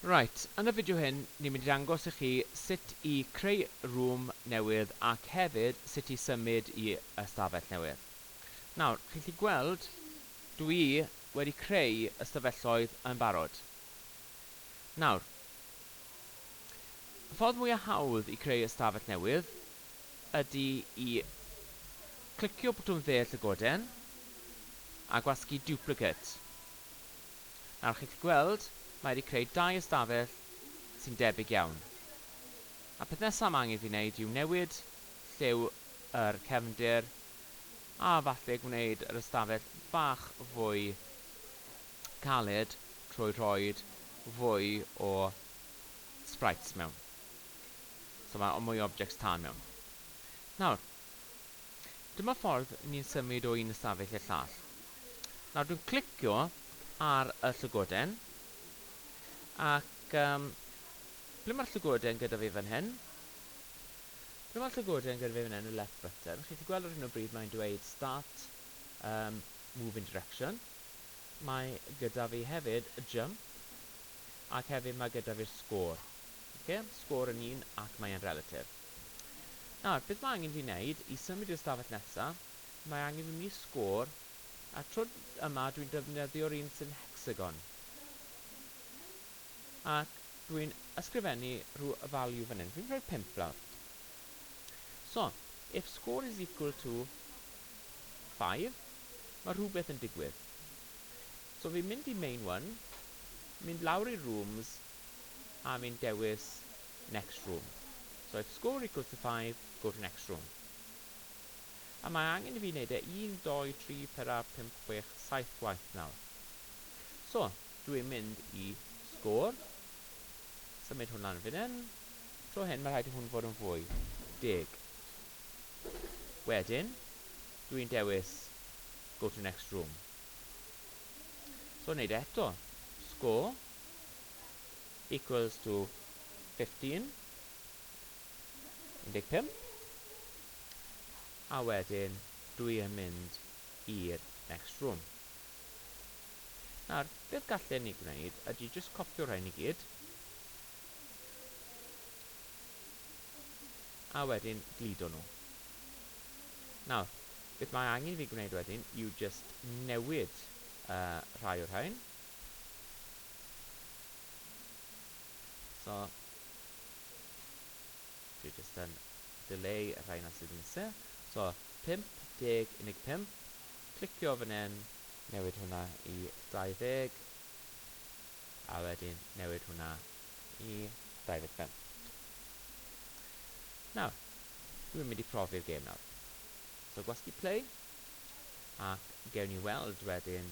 Reit, yn y fideo hyn ni'n mynd i ddangos i chi sut i creu room newydd ac hefyd sut i symud i ystafell newydd. Nawr, chi'n gallu gweld dw i wedi creu ystafelloedd yn barod. Nawr, y ffordd mwya hawdd i creu ystafell newydd ydy i clicio botwm dde llygoden a gwasgu duplicate. Nawr chi'n gallu gweld, mae wedi creu dau ystafell sy'n debyg iawn. A peth nesaf mae angen fi wneud yw newid lliw yr cefndir a falle gwneud yr ystafell bach fwy caled trwy rhoed fwy o sprites mewn. So mae mwy o objects tân mewn. Nawr, Dyma ffordd ni'n symud o un ystafell i'r llall. Nawr dwi'n clicio ar y llygoden ac um, ble mae'r llygoden gyda fi fan hyn? Ble mae'r llygoden gyda fi fan hyn, y left button? Chi'n gallu gweld ar hyn o bryd mae'n dweud start um, move in direction. Mae gyda fi hefyd y jump ac hefyd mae gyda fi'r sgôr. Okay? Sgôr yn un ac mae'n relative. Nawr, beth mae angen fi wneud i symud i'r stafell nesa? Mae angen fi mynd i sgôr, a tro yma dwi'n defnyddio'r un sy'n hecsagon. Ac dwi'n ysgrifennu rhyw value fan hyn, fi'n rhoi'r pump lawr. So, if score is equal to 5, mae rhywbeth yn digwydd. So fi'n mynd i main one, mynd lawr i rooms, a fi'n dewis next room. So if score equals to five, go to next room. A mae angen i fi wneud e un, dou, tri, pedwar, pump, chwech, saith gwaith nawr. So, dw i'n mynd i score, symud hwn lan fan hyn. Tro hyn, mae rhaid i hwn fod yn fwy. Deg. Wedyn, dw i'n dewis go to next room. So, wneud e eto. Score. equals to 15 15 a wedyn dwi yn mynd i'r next room nawr beth gallen ni gwneud ydy jyst copio rhain i gyd a wedyn gludo nhw nawr beth mae angen fi gwneud wedyn yw jyst newid uh, rhai o'r rhain So, dwi jyst yn dileu y rhaina sydd yn sâl. So, 50 unig 5. Clicio fan hyn, newid hwnna i 20, a wedyn newid hwnna i 25. Nawr, dwi'n mynd i profi'r gêm nawr. So, gwasgu play, ac gewn ni weld wedyn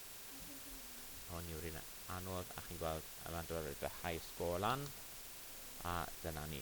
hon yw'r un anodd a chi'n gweld y landrodd yn edrych high score lan a dyna ni